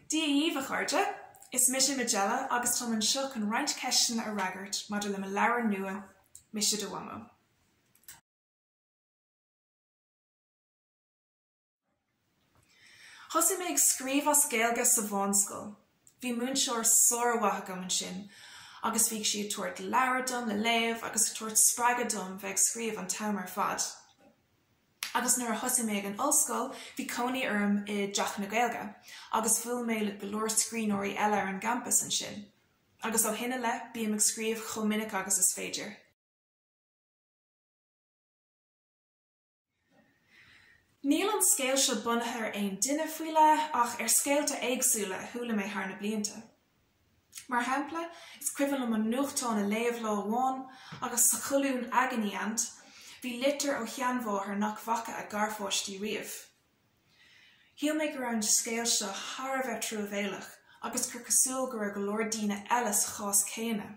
Dia dhíbh, a chairde! Is mise Majella agus táim anseo chun roinnt ceisteanna a fhreagairt maidir le mo leabhar nua, Mise Do Mhamó. Thosaigh mé ag scríobh as Gaeilge sa bhunscoil. Bhí múinteoir sár-mhaith agam ansin agus bhíodh sí ag tabhairt leabhra dom le léamh agus ag tabhairt spreagadh dom bheith ag scríobh an t-am ar fad. Agus nuair a thosaigh mé ag an ollscoil, bhí cónaí orm i dTeach na Gaeilge agus bhuail mé le go leor scríbhneoirí eile ar an gcampas ansin. Agus ó shin i leith, bím ag scríobh chomh minic agus is féidir. Níl an scéal seo bunaithe ar aon duine faoi leith ach ar scéalta éagsúla a chuala mé thar na blianta. Mar shampla, is cuimhin liom an nuachtán a léamh lá amháin agus sa cholún 'Agony Aunt' bhí litir ó sheanmháthair nach bhfaca a garpháistí riamh. Shíl mé go raibh an scéal seo thar a bheith truamhéalach agus gur cosúil go raibh go leor daoine eile sa chás céanna.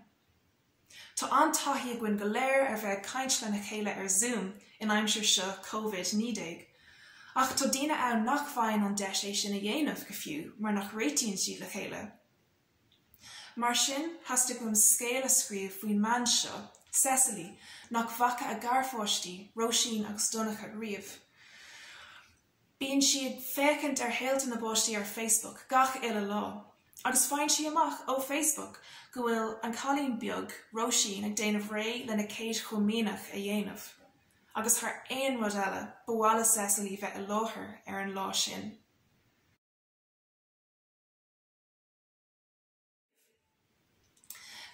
Tá an-taithí againn go léir ar bheith ag caint lena chéile ar Zoom in aimsir seo Covid 19, ach tá daoine ann nach bhfaigheann an deis é sin a dhéanamh go fiú mar nach réitíonn siad le chéile. Mar sin, theastaigh uaim scéal a scríobh faoin mbean seo, Cecily, nach bhfaca a garpháistí, Róisín agus Donncha, riamh. Bíonn sí ag féachaint ar shaolta na bpáistí ar Facebook gach uile lá agus faigheann sí amach ó Facebook go bhfuil an cailín beag, Róisín, ag déanamh réidh lena céad chomaoineach a dhéanamh. Agus thar aon rud eile, ba mhaith le Cecily bheith i láthair ar an lá sin.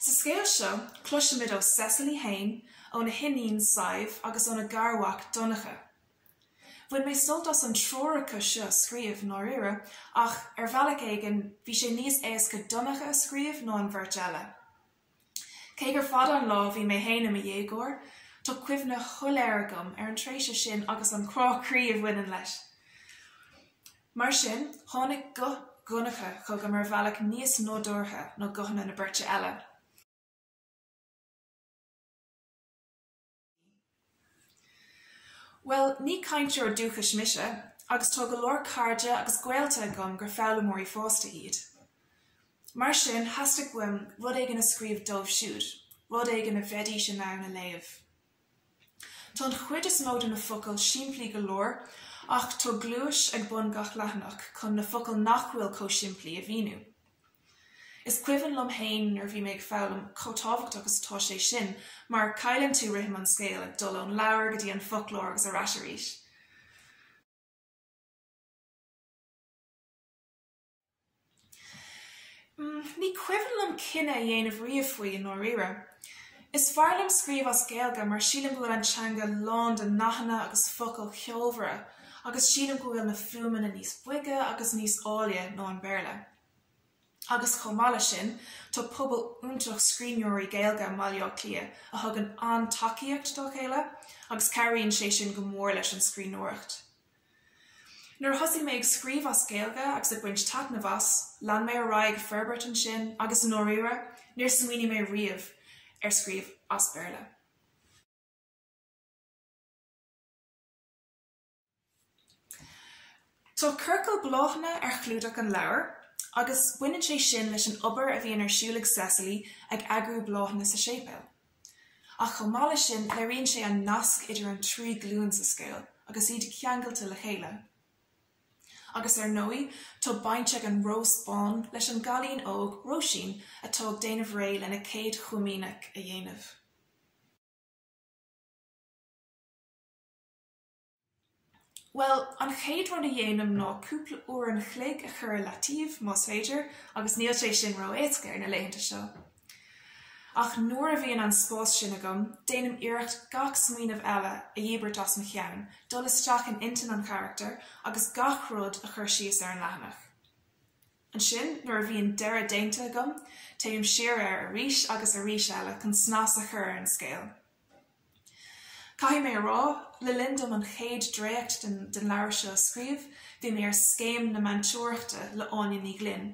Sa scéal seo, cloisimid ó Cecily í fhéin, óna hiníon Sadhbh agus óna garmhac Donncha. Bhain mé sult as an triúr acu seo a scríobh, i ndáiríre, ach ar bhealach éigin, bhí sé níos éasca Donncha a scríobh ná an bheirt eile. Cé gur fada an lá a bhí mé fhéin i mo dhéagóir, tá cuimhne shoiléir agam ar an tréimhse sin agus an crá croí a bhaineann leis. Mar sin, tháinig guth Dhonncha chugam ar bhealach níos nádúrtha ná guthanna na beirte eile. Bhuel, ní cainteoir dúchais mise, agus tá go leor cairde agus gaolta agam gur foghlaimeoirí fásta iad. Mar sin, theastaigh uaim rud éigin a scríobh dóibh siúd, rud éigin a bheidís in ann a léamh. Tá an chuid is mó de na focail simplí go leor ach tá gluais ag bun gach leathanaigh chun na focail nach bhfuil chomh simplí a mhíniú. Is cuimhin liom fhéin nuair a bhí mé ag foghlaim chomh tábhachtach agus atá sé sin mar cailleann tú rithim an scéil ag dul ón leabhar go dtí an foclóir agus ar ais arís. Ní cuimhin liom cinneadh a dhéanamh riamh faoi, i ndáiríre. Is fearr liom scríobh as Gaeilge mar sílim go bhfuil an teanga lán de nathanna agus focail cheolmhara agus sílim go bhfuil na fuaimeanna níos boige agus níos áille ná an Béarla. Agus chomh maith le sin, tá pobal iontach scríbhneoirí Gaeilge i mBaile Átha Cliath a thugann an-tacaíocht dá chéile agus cabhraíonn sé sin go mór leis an scríbhneoireacht. Nuair a thosaigh mé ag scríobh as Gaeilge agus ag baint taitneamh as, lean mé ar aghaidh ag forbairt ansin agus i ndáiríre, níor smaoinigh mé riamh ar scríobh as Béarla. Tá ciorcal bláthanna ar chlúdach an leabhair agus baineann sé sin leis an obair a bhíonn ar siúl ag Cecily ag eagrú bláthanna sa séipéal. Ach chomh maith leis sin, léiríonn sé an nasc idir an trí glúin sa scéal agus iad ceangailte le chéile. Agus ar ndóigh, tá baint ag an rós bán leis an gcailín óg, Róisín, atá ag déanamh réidh lena céad chomaoineach a dhéanamh. Bhuel, an chéad rud a dhéanaim ná cúpla uair an chloig a chur i leataobh, más féidir, agus níl sé sin ró-éasca ar na laethanta seo. Ach nuair a bhíonn an spás sin agam, déanaim iarracht gach smaoineamh eile a dhíbirt as mo cheann, dul isteach in intinn an charachtair agus gach rud a chur síos ar an leathanach. Ansin, nuair a bhíonn deireadh déanta agam, téim siar air arís agus arís eile chun snas a chur ar an scéal. Caithfidh mé a rá, le linn dom an chéad dréacht den leabhar seo a scríobh, bhí mé ar Scéim na Meantóireachta le Áine Ní Ghlinn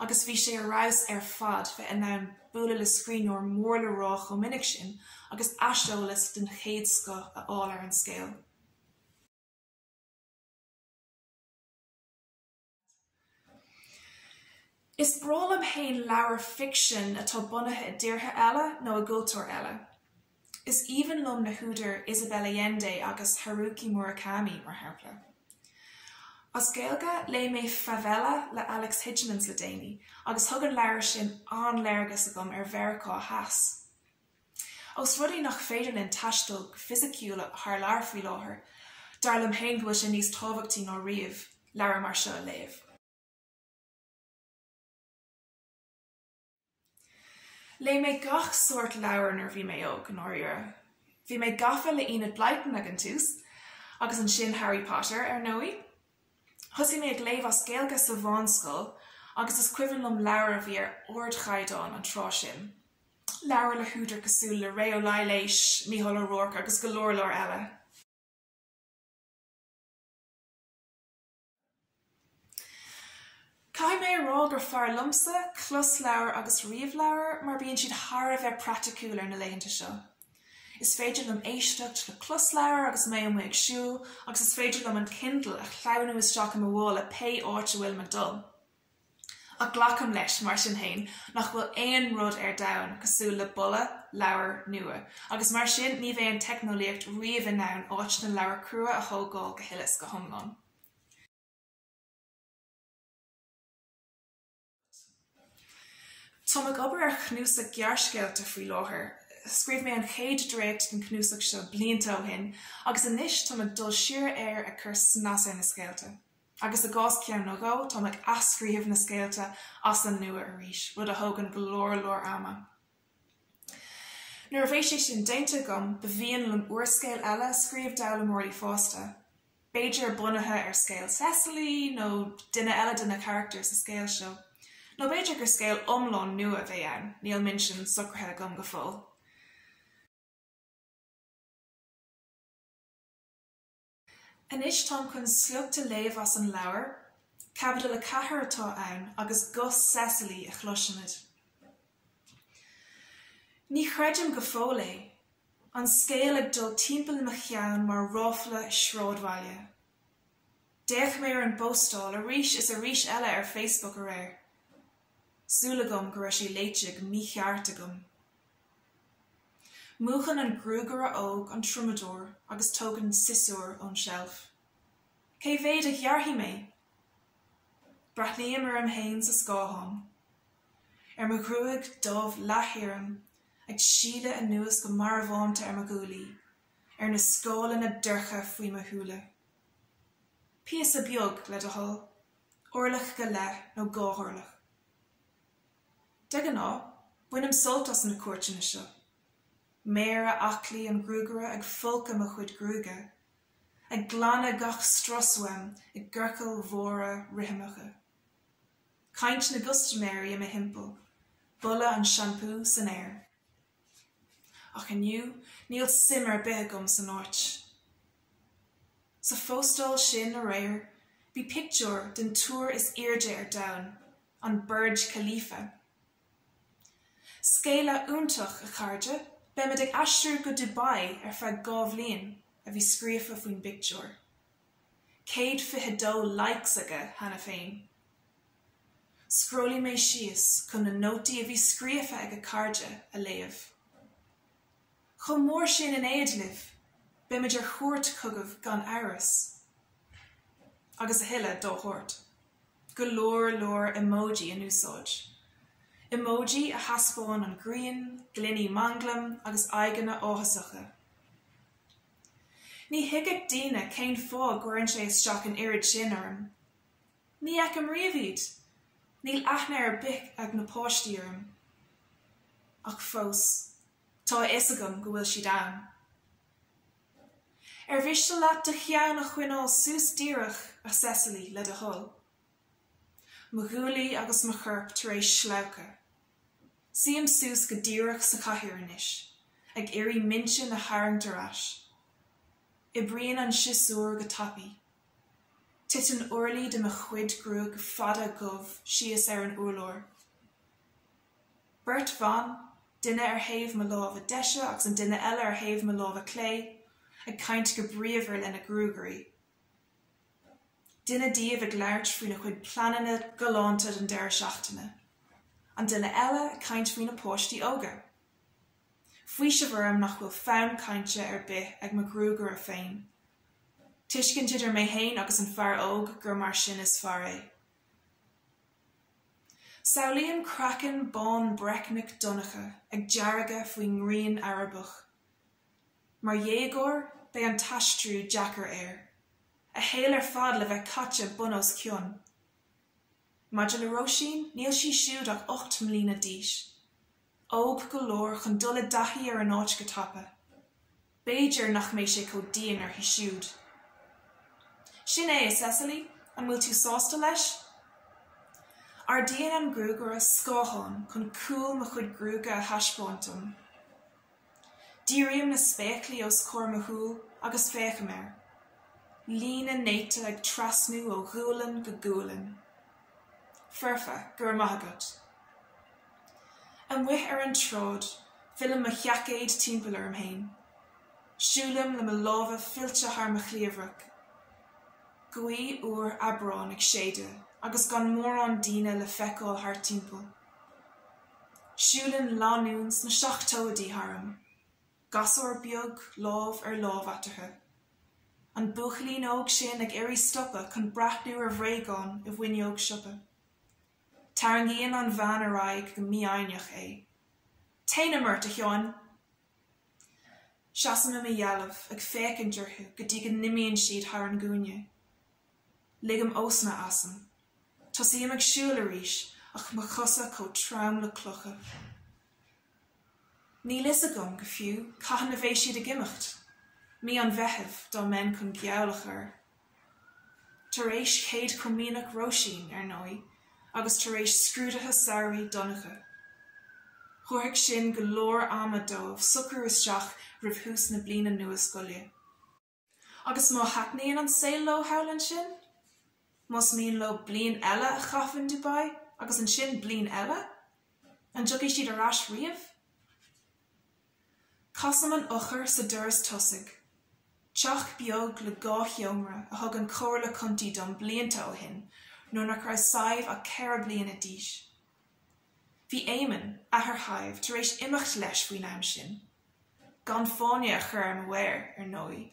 agus bhí sé ar fheabhas ar fad bheith in ann bualadh le scríbhneoir mór le rá chomh minic sin agus aiseolas den chéad scoth a fháil ar an scéal. Is breá liom fhéin leabhair ficsean atá bunaithe i dtíortha eile nó i gcultúir eile. Is aoibhinn liom na húdair Isabel Allende agus Haruki Murakami, mar shampla. As Gaeilge, léigh mé Favela le Alex Hijmans le déanaí agus thug an leabhar sin an-léargas agam ar Mheiriceá Theas. Ós rud é nach féidir linn taisteal go fisiciúil thar lear faoi láthair, dar liom féin go bhfuil sé níos tábhachtaí ná riamh leabhair mar seo a léamh. Léigh mé gach sórt leabhair nuair a bhí mé óg, i ndáiríre. Bhí mé gafa le Enid Blyton ag an tús, agus ansin Harry Potter, ar ndóigh. Thosaigh mé ag léamh as Gaeilge sa mheánscoil agus is cuimhin liom leabhair a bhí ar ardchaighdeán an tráth sin, leabhair le húdair cosúil le Ré Ó Laighléis, Mícheál Ó Ruairc agus go leor leor eile. Caithfidh mé a rá gur fearr liomsa closleabhair agus ríomhleabhair mar bíonn siad thar a bheith praiticiúil ar na laethanta seo. Is féidir liom éisteacht le closleabhar agus mé amuigh ag siúl agus is féidir liom an Kindle a shleamhnú isteach i mo mhála pé áit a bhfuilim ag dul. Ach glacaim leis, mar sin féin, nach bhfuil aon rud ar domhan cosúil le boladh leabhair nua agus mar sin ní bheidh an teicneolaíocht riamh in ann áit na leabhar crua a thógáil go huile is go hiomlán. Táim ag obair ar chnuasach gearrscéalta faoi láthair. Scríobh mé an chéad dréacht den chnuasach seo blianta ó shin agus anois táim ag dul siar air ag cur snas ar na scéalta. Agus i gcás ceann nó dhó, táim ag athscríobh na scéalta as an nua arís, rud a thógann go leor leor ama. Nuair a bheidh sé sin déanta agam, ba mhian liom úrscéal eile a scríobh d'fhoghlaimeoirí fásta, b'fhéidir bunaithe ar scéal Cecily nó duine eile de na carachtair sa scéal seo. Nó b'fhéidir gur scéal iomlán nua a bheidh ann, níl an méid sin socraithe agam go fóill. Anois táim chun sliocht a léamh as an leabhar. Caibidil a ceathair atá ann agus guth Cecily a chloisimid. Ní chreidim go fóill é. An scéal ag dul timpeall i mo cheann mar ráfla sráidbhaile. D'fhéach mé ar an bpóstáil arís is arís eile ar Facebook aréir. Súil agam go raibh sé léite go mícheart agam. Múchann an gruagaire óg an triomadóir agus tógann siosúr ón tseilf. Cé mhéad a ghearrfaidh mé? Breathnaím orm fhéin sa scáthán. Ar mo ghruaig dhubh leath-thirim ag sileadh anuas go marbhánta ar mo ghuaillí, ar na scáileanna dorcha faoi mo shúile. Píosa beag, le do thoil. Orlach go leith nó dhá orlach. De ghnáth, bainim sult as na cuairteanna seo. Méara aclaí an gruagaire ag folcadh mo chuid gruaige, ag glanadh gach strus uaim i gciorcail mhóra rithimeacha. Caint na gcustaiméirí i mo thimpeall, boladh an seampú san aer. Ach inniu, níl suim ar bith agam san áit. Sa phóstáil sin aréir, bhí pictiúr den túr is airde ar domhan an Burj Khalifa. Scéala iontach, a chairde, beimid ag aistriú go Dubai ar feadh dhá bhliain, a bhí scríofa faoin bpictiúr. Céad fiche dó likes aige cheana féin. Scrollaigh mé síos chun na nótaí a bhí scríofa ag a chairde a léamh. Chomh mór sin in éad libh, beimid ar chuairt chugaibh gan amhras. Agus a thuilleadh dá shórt. go leor leor emoji in úsáid. Emoji a thaispeáin an ghrian, gloiní manglaim agus aghaidheanna áthasacha. Ní thuigfeadh daoine cén fáth go gcuireann sé isteach an oiread sin orm. Ní fheicim riamh iad. Níl aithne ar bith ag na páistí orm. Ach fós, tá a fhios agam go bhfuil siad ann. Ar mhiste leat do cheann a choinneáil suas díreach, a Cecily, le do thoil? Mo ghuaillí agus mo chorp tar éis sleabhcadh. Suím suas go díreach sa chathaoir anois, ag iarraidh m'aigne a tharraingt ar ais. Oibríonn an siosúr go tapaidh. Titeann orlaí de mo chuid gruaige fada dhubh síos ar an urlár. beirt bhan, duine ar thaobh mo láimhe deise agus an duine eile ar thaobh mo láimhe clé, ag caint go bríomhar lena gruaigairí. Duine díobh ag labhairt faoina cuid pleananna galánta don deireadh seachtaine. An duine eile ag caint faoina páistí óga. Faoiseamh orm nach bhfuil fonn cainte ar bith ag mo ghruagaire féin. Tuiscint idir mé fhéin agus an fear óg gur mar sin is fearr é. Samhlaím craiceann bán breicneach Donncha ag deargadh faoin ngrian Arabach. Mar dhéagóir, beidh an t-aistriú deacair air, a shaol ar fad le bheith caite bun os cionn. Maidir le Róisín, níl sí siúd ach ocht mbliana d'aois. Óg go leor chun dul i dtaithí ar an áit go tapa. B'fhéidir nach mbeidh sé chomh dian uirthi siúd. Sin é, a Cecily, an bhfuil tú sásta leis? Ardaíonn an gruagaire scáthán chun cúl mo chuid gruaige a thaispeáint dom. Dírím na spéaclaí os comhair mo shúl agus féachaim air. Líne néata ag trasnú ó ghualainn go gualainn. Foirfe, go raibh maith agat. Amuigh ar an tsráid, fillim mo sheaicéad timpeall orm fhéin. Siúlaim le mo lámha fillte thar mo chliabhrach. Gaoth fhuar Aibreáin ag séideadh agus gan mórán daoine le feiceáil thart timpeall. Siúlann lánúin sna seachtóidí tharam, gasúr beag lámh ar lámh eatarthu. An buachaillín óg sin ag iarraidh stopadh chun breathnú ar bhréagán i bhfuinneog siopa. Tarraingíonn an bhean ar aghaidh go mífhoighneach é. 'Téanam ort, a Sheáin! Seasaim i mo dhealbh ag féachaint orthu go dtí go n-imíonn siad thar an gcúinne. Ligim osna asam. Tosaím ag siúl arís ach mo chosa chomh trom le clocha. Níl fhios agam, go fiú, cathain a bheidh siad ag imeacht. Mí an Mheithimh, dá mbeinn chun geall a chur. Tar éis Chéad Chomaoineach Róisín, ar ndóigh, agus tar éis scrúduithe samhraidh Dhonncha. Thabharfadh sin go leor ama dóibh socrú isteach roimh thús na bliana nua scoile. Agus má thaitníonn an saol leo thall ansin? Más mian leo bliain eile a chaitheamh in Dubai agus ansin bliain eile? An dtiocfaidh siad ar ais riamh? Casaim an eochair sa doras tosaigh. Teach beag le dhá sheomra a thug an Chomhairle Contae dom blianta ó shin nuair nach raibh Sadhbh ach ceithre bliana d'aois. Bhí Éamonn, athair Shadhbh, tar éis imeacht leis faoin am sin. gan fáinne a chur ar mo mhéir, ar ndóigh.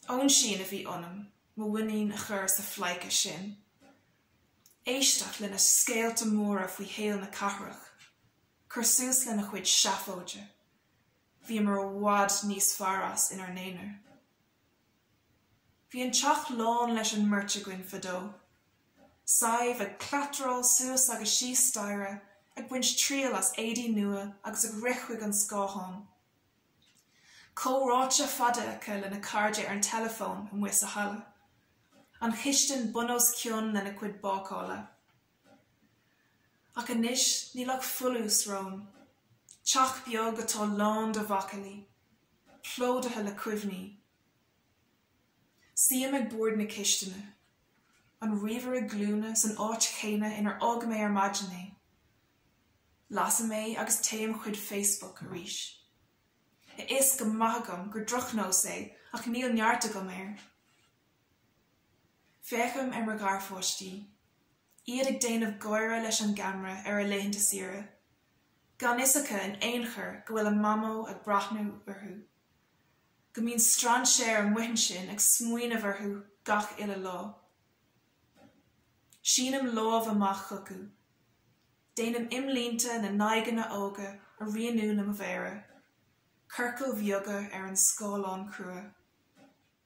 Óinsín a bhí ionam mo mhuinín a chur sa phleidhce sin. Éisteacht lena scéalta móra faoi shaol na cathrach. Cur suas lena chuid seafóide. Bhíomar i bhfad níos fearr as inár n-aonar. Bhí an teach lán leis an mbeirt againn fadó. Sadhbh ag cleatráil suas agus síos staighre ag baint triail as éadaí nua agus ag rith chuig an scáthán. Comhráite fada aici lena cairde ar an teileafón amuigh sa halla. An chistin bun os cionn lena cuid bácála. Ach anois níl ach folús romham. Teach beag atá lán de mhacallaí, plódaithe le cuimhní. Suím ag bord na cistine. An ríomhaire glúine san áit chéanna inar fhág mé ar maidin é. Lasaim é agus téim chuig Facebook arís. A fhios go maith agam gur drochnós é ach níl neart agam air. Féachaim ar mo gharpháistí, iad ag déanamh gáire leis an gceamara ar a laethanta saoire, gan fhios acu in aon chor go bhfuil a Mamó ag breathnú orthu, go mbíonn strainséir amuigh ansin ag smaoineamh orthu gach uile lá. Sínim lámh amach chucu. Déanaim imlínte na n-aghaidheanna óga a rianú le mo mhéara, ciorcail bheaga ar an scáileán crua.